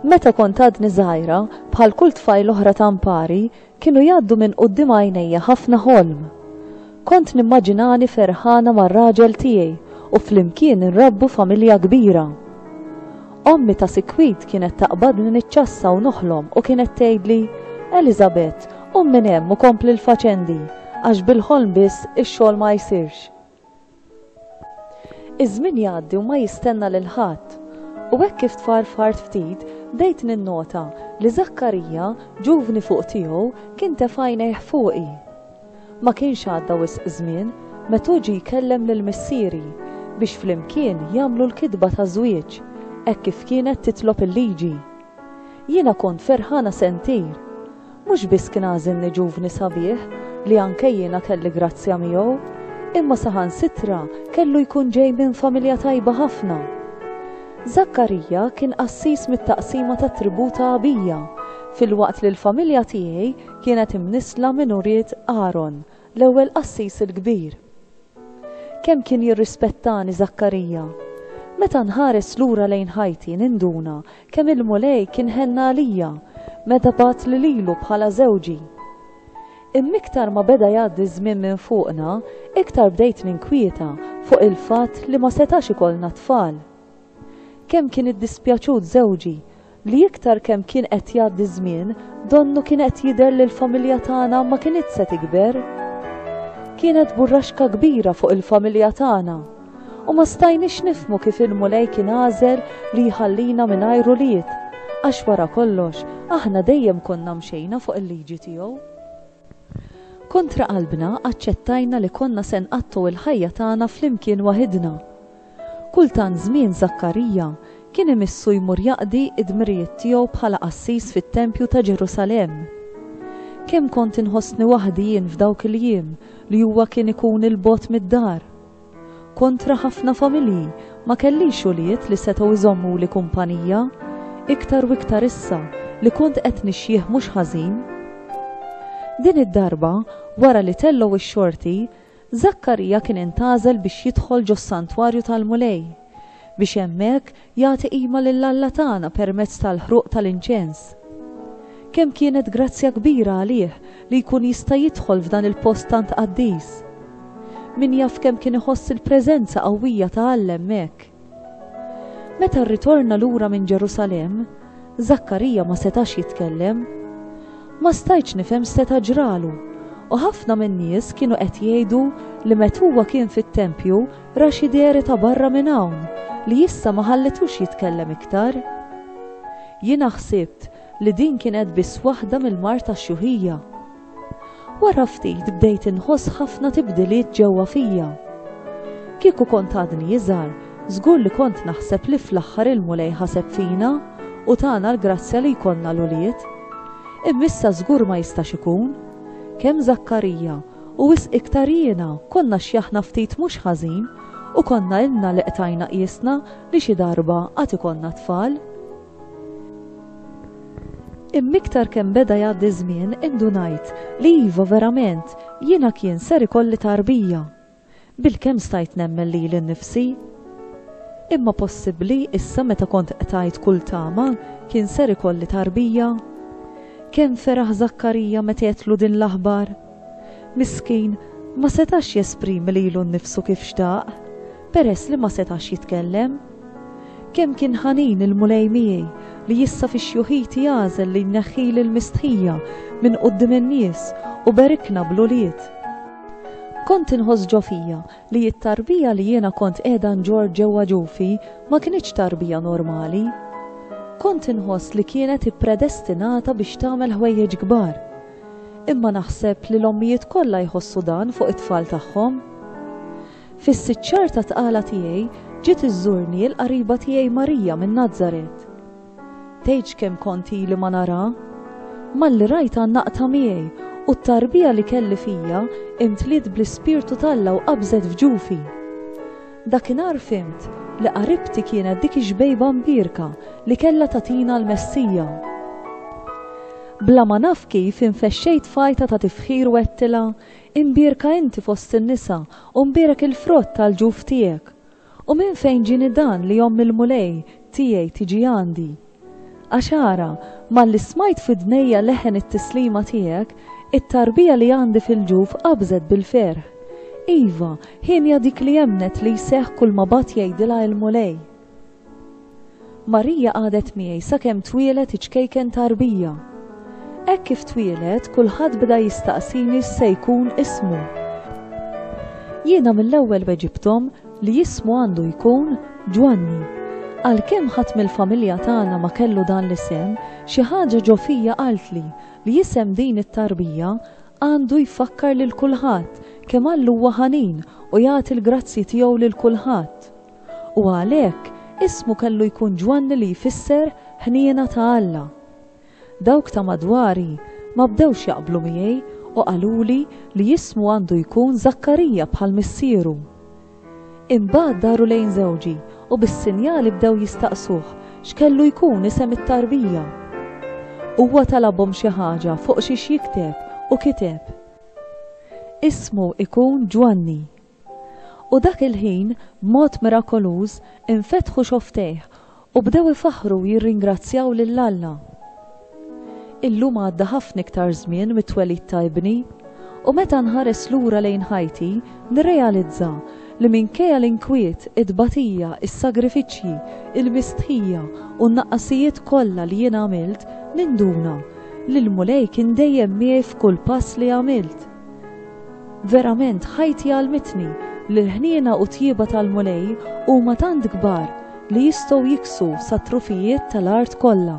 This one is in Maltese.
Meta kont għadni żgħira, bħal kull tfajl oħra ta' mpari, kienu jgħaddu minn quddiem għajnejja ħafna ħolm. Kont nimmaġinani ferħana mar-raġel tiegħi u flimkien nrabbu familja kbira. Ommi ta' sikwit kienet taqbadni niċċassa u noħlom u kienet tgħidli, Elizabeth, qum minn hemm u kompli l-faċendi, għax bil-ħolm biss ix-xogħol ma jsirx. Iż-żmien jgħaddi u ma jistenna lil ħadd. U hekk kif tfarfart ftit, bdejt ninnota li Żakkarija, ġuvni fuq tiegħu, kien tefa' għajnejh fuqi. Ma kienx għadda wisq żmien met'hu ġie jkellem lil missieri biex flimkien jagħmlu l-kitba ta' żwieġ hekk kif kienet titlob il-liġi. Jiena kont ferħana sentir. Mhux biss kien għażilni ġuvni sabiħ li anke jiena kelli grazzja miegħu, imma saħansitra kellu jkun ġej minn familja tajba ħafna. Żakkarija kien qassis mit-taqsima tat-tribù ta' Abija, filwaqt li l-familja tiegħi Kienet imnissla minn ulied Aron, l-ewwel qassis il-kbir. Kemm kien jirrispettani Żakkarija! Meta nħares lura lejn ħajti ninduna kemm il-Mulej kien ħenna għalija meta bagħat lililu bħala żewġi. Imma iktar ma beda jgħaddi ż-żmien minn fuqna, iktar bdejt ninkwieta fuq il-fatt li ma setax ikollna tfal. Kemm kien iddispjaċut żewġi li iktar kemm kien qed jgħaddi ż-żmien, donnu kien qed jidher li l-familja tagħna ma kinitx se tikber. Kienet burraxka kbira fuq il-familja tagħna, u ma stajniex nifhmu kif il-Mulej kien għażel li jħallina mingħajr ulied, għax wara kollox aħna dejjem konna mxejna fuq il-liġi tiegħu. Kontra qalbna aċċettajna li konna se nqattgħu l-ħajja tagħna flimkien waħidna. Kull tant żmien Żakkarija kien imissu jmur jaqdi d-dmirijiet tiegħu bħala qassis fit-tempju ta' Ġerusalemm. Kemm kont inħossni waħdi jien f'dawk il-jiem li huwa kien ikun 'il bogħod mid-dar! Kontra ħafna familji, ma kellix ulied li setgħu jżommuli kumpanija, iktar u iktar issa li kont qed nixjieħ mhux ħażin. Din id-darba, wara li tellgħu x-xorti, Żakkarija kien intgħażel biex jidħol ġos-santwarju tal-Mulej, biex hemmhekk jagħti qima lil Alla tagħna permezz tal-ħruq tal-inċens. Kemm kienet grazzja kbira għalih li jkun jista' jidħol f'dan il-post tant qaddis! Min jaf kemm kien iħoss il-preżenza qawwija ta' Alla hemmhekk! Meta rritorna lura minn Ġerusalemm, Żakkarija ma setax jitkellem. Ma stajtx nifhem x'seta' ġralu, u ħafna min-nies kienu qed jgħidu li met huwa kien fit-tempju ra xi dehri ta' barra minn hawn li issa ma ħallitux jitkellem iktar. Jiena ħsibt li din kienet biss waħda mill-mard tax-xjuħija. Wara ftit bdejt inħoss ħafna tibdiliet ġewwa fija. Kieku kont għadni iżgħar, żgur li kont naħseb li fl-aħħar il-Mulej ħaseb fina u tana l-grazzja li jkollna l-ulied. Imma issa żgur ma jistax ikun. Kemm Zakkarija u wisq iktar jiena konna xjaħna ftit mhux ħażin u konna ilna li qtajna qiesna li xi darba għad ikollna tfal. Imma iktar kemm beda jgħaddi ż-żmien indunajt li iva verament jiena kien ser ikolli tarbija. Bilkemm stajt nemmen lili nnifsi. Imma possibbli issa meta kont qtajt kull tama kien ser ikolli tarbija? Kemm feraħ Żakkarija meta għedtlu din l-aħbar! Miskin, ma setax jesprimi lilu nnifsu kif xtaq. Peress li ma setax jitkellem. Kemm kien ħanin il-Mulej miegħi li issa fi xjuħiti għażel li jneħħili l-mistħija minn quddiem in-nies u berikna bl-ulied. Kont inħoss ġo fija li t-tarbija li jiena kont qiegħda nġorr ġewwa ġufi ma kinitx tarbija normali. Kont inħoss li kienet ippredestinata biex tagħmel ħwejjeġ kbar. Imma naħseb li l-ommijiet kollha jħossu dan fuq it-tfal tagħhom. Fis-sitt xahar ta' tqala tiegħi ġiet iżżurni l-qariba tiegħi Marija minn Nazaret. Tgħidx kemm kont ili ma narha! Malli rajtha naqtha miegħi u t-tarbija li kelli fija imtliet bl-Ispirtu t'Alla u qabżet f'ġufi. Dakinhar fhimt li qaribti kienet dik ix-xbejba mbierka li kellha tagħtina l-Messija. Bla ma naf kif infexxejt f'għajta ta' tifħir u għedtilha, Imbierka inti fost in-nisa, u mbierek il-frott tal-ġuf tiegħek. U minn fejn ġieni dan li omm il-Mulej tiegħi tiġi għandi? Għax ara, malli smajt f'widnejja leħen it-tislima tiegħek, it-tarbija li għandi fil-ġuf qabżet bil-ferħ. Iva, hienja dik li emmnet li jseħħ kulma bgħat jgħidilha il-Mulej. Marija qagħdet miegħi sakemm twieled iċ-ċkejken ta' Rbija. Hekk kif twieled, kulħadd bda jistaqsini x'se jkun ismu. Jiena mill-ewwel weġibthom li ismu għandu jkun Ġwanni. Għalkemm ħadd mill-familja tagħna ma kellu dan l-isem, xi ħaġa ġo fija qaltli li isem din it-tarbija għandu jfakkar lil kulħadd kemm Alla huwa ħanin u jagħti l-grazzji tiegħu lil kulħadd. u għalhekk ismu kellu jkun Ġwanni li jfisser Ħniena ta' Alla. Dawk ta' madwari ma bdewx jaqblu miegħi u qaluli li jismu għandu jkun Żakkarija bħal missieru. Imbagħad daru lejn żewġi u bis-sinjali bdew jistaqsuh x'kellu jkun isem it-tarbija. Huwa talabhom xi ħaġa fuq xiex jikteb u kiteb, Ismu ikun Ġwanni. U dak il-ħin, b'mod mirakoluż, infetħu xofftejh u bdew ifaħħru u jirringrazzjaw lil Alla. Illum għadda ħafna iktar żmien mit-twelid ta' ibni, u meta nħares lura lejn ħajti, nirrealizza li minkejja l-inkwiet, it-tbatija, is-sagrifiċċji, il-mistħija u n-naqqasijiet kollha li jien għamilt, ninduna li l-Mulej kien dejjem miegħi f'kull pass li għamilt. Verament ħajti għallmitni li l-ħniena u tjieba tal-Mulej huma tant kbar li jistgħu jiksu sat-trufijiet tal-art kollha.